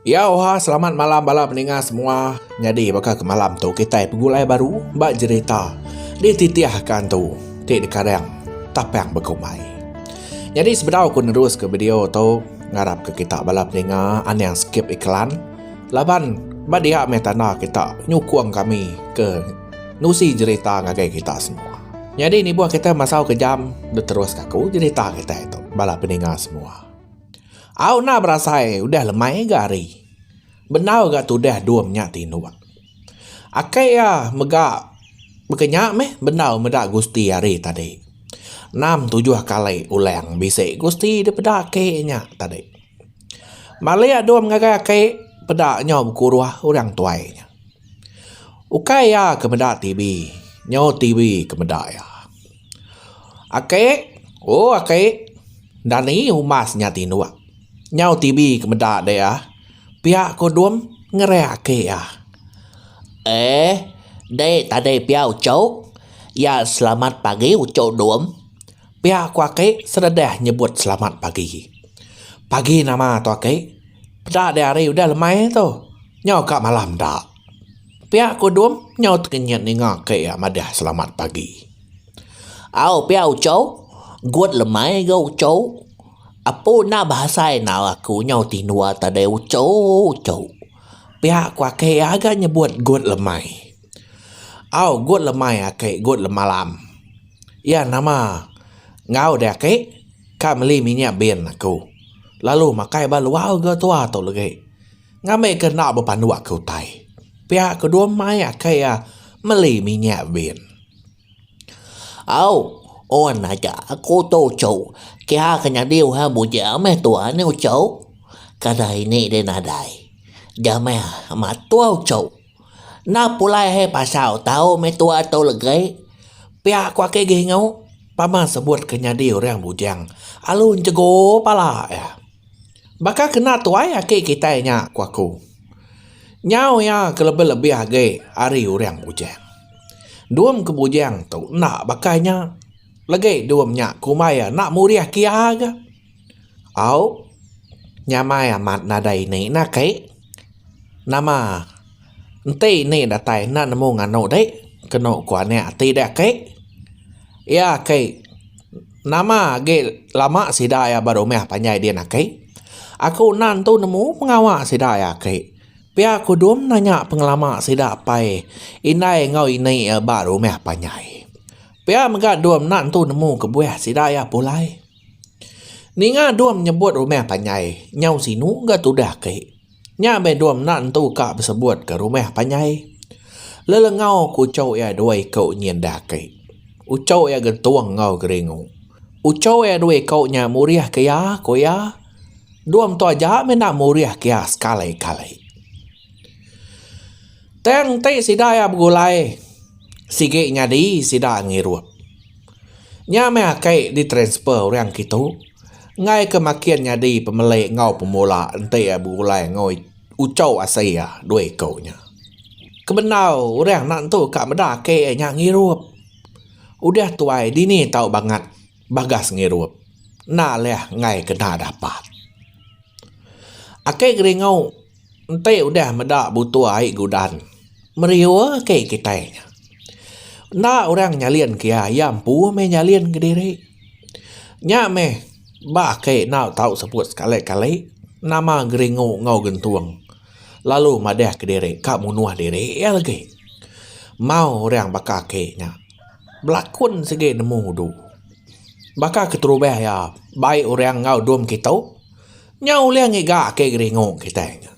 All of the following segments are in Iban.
Iya oha selamat malam bala peninga semua. Nyadi baka ke malam tu kitai pegulai baru ba jerita dititihka entu ti dikarang Tapang Bekumbai. Nyadi sebedau ku neruska video tu ngarapka kita bala peninga anang skip iklan laban ba dia meh tanda kita nyukung kami ke nusi jerita ngagai kita semua. Nyadi nibuh kita masau kejam neteruska ku jerita kita tu bala peninga semua. Au nah berasai udah lemai ga hari. Bendau ga tudah dom nya tinuk. Akai iya mega bekenya meh bendau meda gusti hari tadi. Enam tujuh kali ulang bisi gusti dipeda aki nya tadi. Malik dom ngagai aki peda nyau bekuruh orang tuai nya. Ukai iya ke meda TV nyau TV ke meda iya. Ake oh ake enda ni umas nya tinduk nyau TV ke meda dek iya pia ko dum ngereh ake iya. Eh dek tadi pia uchu iya selamat pagi uchu dum. Pia aku aki seredah nyebut selamat pagi. Pagi nama tu aki. Peda deh hari udah lemai tu. Nyau ka malam da. Pia aku dum nyau tengenyit ninga aki iya madah selamat pagi. Au pia uchou gut lemai ga uchou. Apu enda bahasa enau aku nyau tindua tadai uchouu. Pia aku aki iya ga nyebut gut lemai. Au gut lemai ake gut lemalam iya nama enggau deh ake ka meli minyak bin aku lalu makai ba luar ga tua tu legi ngambi ke enda bepandu ake utai pia ke dua mai ake iya meli minyak bin. Au un aja aku tu uchu kia ke nyadi orang bujang meh tua ni uchu kada ini deh nadai ja meh matua uchu. Enda pulai he pasal tau meh tua tau legei pia ku ake gih engu pama sebut ke nyadi orang bujang alu enjegu pala iya baka kena tuai aki kitai nya ku aku nyau iya ke lebih lebih agi ari orang bujang dum ke bujang tu enda baka nya legei dum nya kumbai iya enda murih kiya ga. Au, nyamai amat nadai ini nah kai. Nama enti ini datai enda nemu nganu deh kenu ku anak ati deh kai. Iya kai nama agi lama sida iya ba rumah panjai din aki. Aku enda tentu nemu pengawa sida iya aki. Pia ku dom nanya pengelama sida pai indai enggau ini iya ba rumah panjai. Pia mega dom enda tentu nemu kebuah sida iya pulai. Ninga dom nyebut rumah panjai nyau sinu ga tudah ti. Nya meh dom enda nentu ka besebut ke rumah panjai. Lelengau ke uchok iya dua iko nyin da agi. Uchok iya gentung enggau geringu. Uchok iya dua iko nya murih ke iya, ku iya. Dom tu aja meh enda murih ke iya sekali-kali. Tang enti sida iya begulai sigi nyadi sida ngirup. Nya meh aki ditransfer orang kitu enggai ke makin nyadi pemeli enggau pemula enti iya begulai enggau uchou asai iya dua ikou nya. Kebendau orang enda tentu ka meda aki iya nya ngirup. Udah tuai dini tau bangat bagas ngirup. Enda leh enggai kena dapat. Aki Geringou. Enti udah meda butuh ai gudan, meriur ke kitai nya. Enda orang nyalin ke iya, iya empu meh nyalin kediri. Nya meh ba ake enggau tau sebut sekali kali nama geringu enggau gentung lalu madah kediri ka munuh diri iya lagi. Mau orang baka ake nya belakun sigi nemu udu. Baka keterubah iya bai orang enggau dom kitu. Nya ulih ngiga ake geringu kitai nya.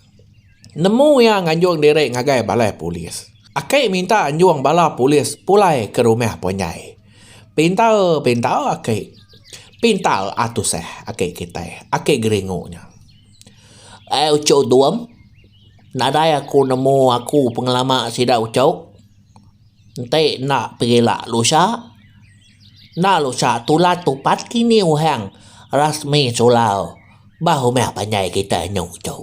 Nemu iya nganjung diri ngagai balai polis. Aki minta anjung bala polis pulai ke rumah Ponyai. Pintar pintar aki. Pintar a tusah aki kitai, aki geringu nya. Ai uchu Duam, nadai aku nemu aku pengelama sida uchu. Enti enda pegila lusa. Enda lusa tulan tupat kini uhang rasmi sulau ba rumah panjai kita anu tu.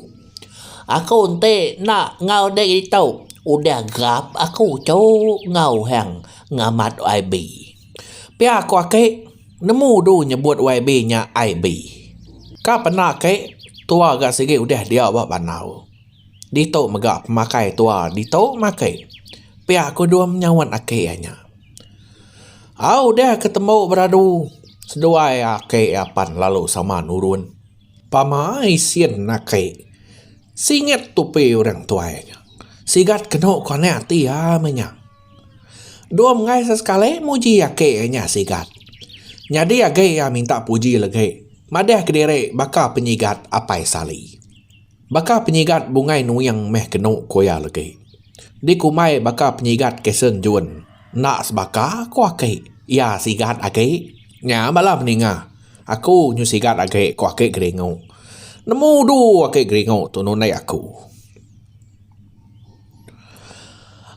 Aku enti enda enggau ditu udah gerap aku tu enggau uhang ngamat yb. Pia ku ake nemu du nyebut yb nya IB. Ka pena ake tua ga sigi udah diau ba bandar. Ditu mega pemakai tua ditu makai. Pia ku dom nyaut ake iya nya. Au udah ke tembu beradu seduai ake apan lalu sama nurun pamai sin ake singget tupi orang tuai ke sigat kenu ke anak ti iya meh nya dua menggai sesekali muji ake nya sigat nyadi agi iya minta puji legi madah kediri baka penyigat Apai Sali. Baka penyigat bungai nuing meh kenu ku iya legi. Dikumbai baka penyigat Kason Jun enda sebaka ku aki iya sigat agi. Nya bala meninga aku nyu sigat agi ku aki Geringu. Nemu udu aki Geringu tu nundai aku.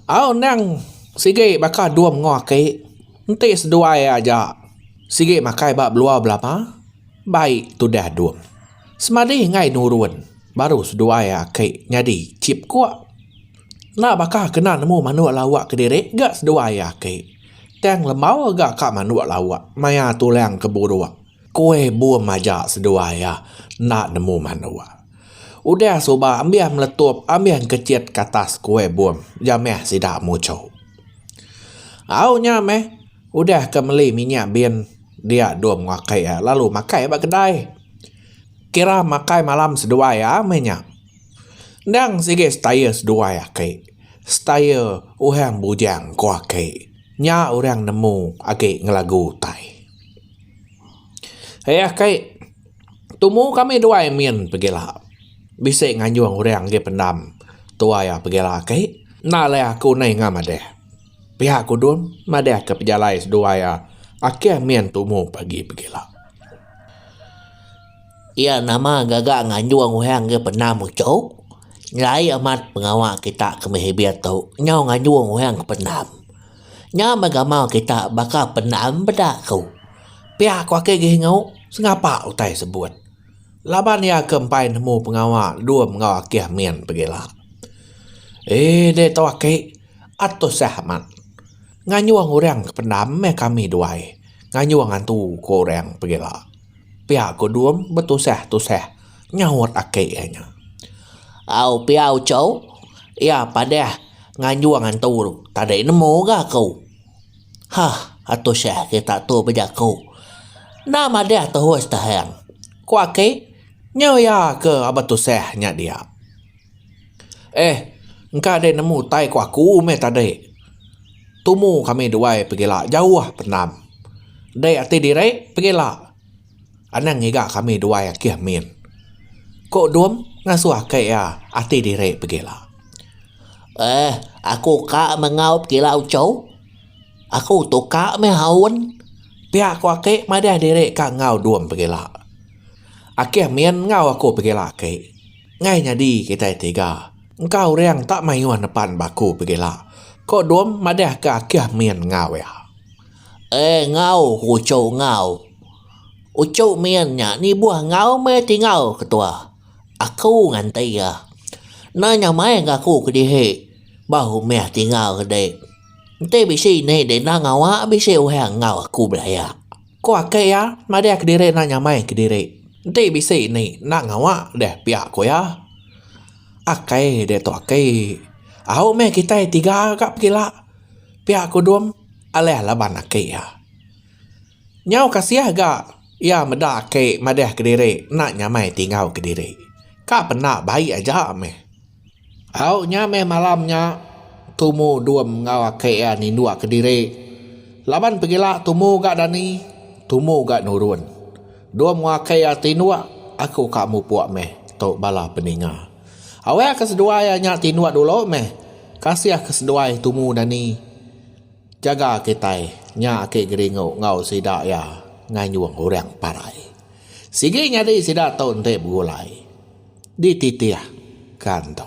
Au endang sigi baka dua mengoh aki enti seduai aja sigi makai ba belua belama Bai tudah duk. Semadi enggai nurun baru seduai aki nyadi chip kuk. Enda baka kena nemu manuk lawak kediri ga seduai aki. Tang lembau ga ka manuk lawak maya tulang ke buruk. Kui bum aja seduai iya enda nemu manuk. Udah suba ambih meletup ambih engkechit ke atas kui bum jamih sida muchuk. Au nya meh udah ke meli minyak bin dia dua menua ke iya lalu makai iya ba kedai. Kira makai malam seduai iya meh nya. Endang sigi setaya seduai ake. Setaya orang bujang ko ake. Nya orang nemu agi ngelagu utai. Ai ake tumu kami duai min pegila bisi nganjung orang agi pendam tuai iya pegila ake. Enda alai aku nai ngah madah. Pia kudung madahka pejalai seduai iya akih mian tumu pagi pegila. Iya nama gaga nganjung orang ke pernah muchok nyelai amat pengawa kita ke meh ibit tu nyau nganjung orang ke pendam. Nya meh agama kita baka pendam peda ku. Pia ku ake gihingau sengapa utai sebut. Laban iya ke empai nemu pengawa lum enggau akih min pegila. Ee deh tu aki a tusah amat. Ngayuh orang ke pendam meh kami duai ngayuh ngantu ku orang pegila. Pia ku lum betusah-tusah nyaut aki iya nya. Au pia uchu iya padah ngayuh ngantu tadi nemu ga ku. Hah, Atu Syekh kita tu bejaku. Enda madah terus tehang. Ku aki, nyu iya ke Abah Tusah nya dia. Eh, engka deh nemu utai ku aku meh tadi. Tumu kami duai pegila jauh pendam. Dek ati diri pegila. Anang ngiga kami duai akih min. Ku Dum ngasuh aka iya ati diri begila. Eh, aku ka mengau begila uchu. Aku tu ka mih aun. Pia ku aki madah diri ka enggau Dum begila. Akih min enggau aku begila aki. Ngai nyadi kitai tiga. Engka uring tak mayuh nepan ba aku begila, ku Dum madah ka akih min enggau iya. Eh ngau ku uchu ngau. Uchu min nya nibuh ngau meh ti ngau ketua. Aku nganti iya. Enda nya mai ga aku kedihi ba rumah ti ngau tadi. Enti bisi indi ti enda ngawa bisi orang ngau aku belaya. Ku ake iya madah kediri enda nya mai kediri. Enti bisi indi enda ngawa deh piak ku iya. Ake diatu ake. Au meh kitai tiga ga pekila piak ku dum. Alah laban aki iya. Nyau kasih ga iya meda aki madah kediri enda nyamai ti enggau kediri. Ka penda baik aja meh. Au nya meh malam nya Tumu dum enggau aki iya ninduk kediri. Laban pegila Tumu ga dani, Tumu ga nurun. Dum enggau aki iya tinduk, aku ka mupuk meh, tu bala peninga. Awek ke seduai anya tinduk dulu meh kasih ke seduai tumu dani jaga kitai nya ake geringu enggau sida iya nganjung orang parai sigi nyadi sida tu enti begulai dititih kan tu.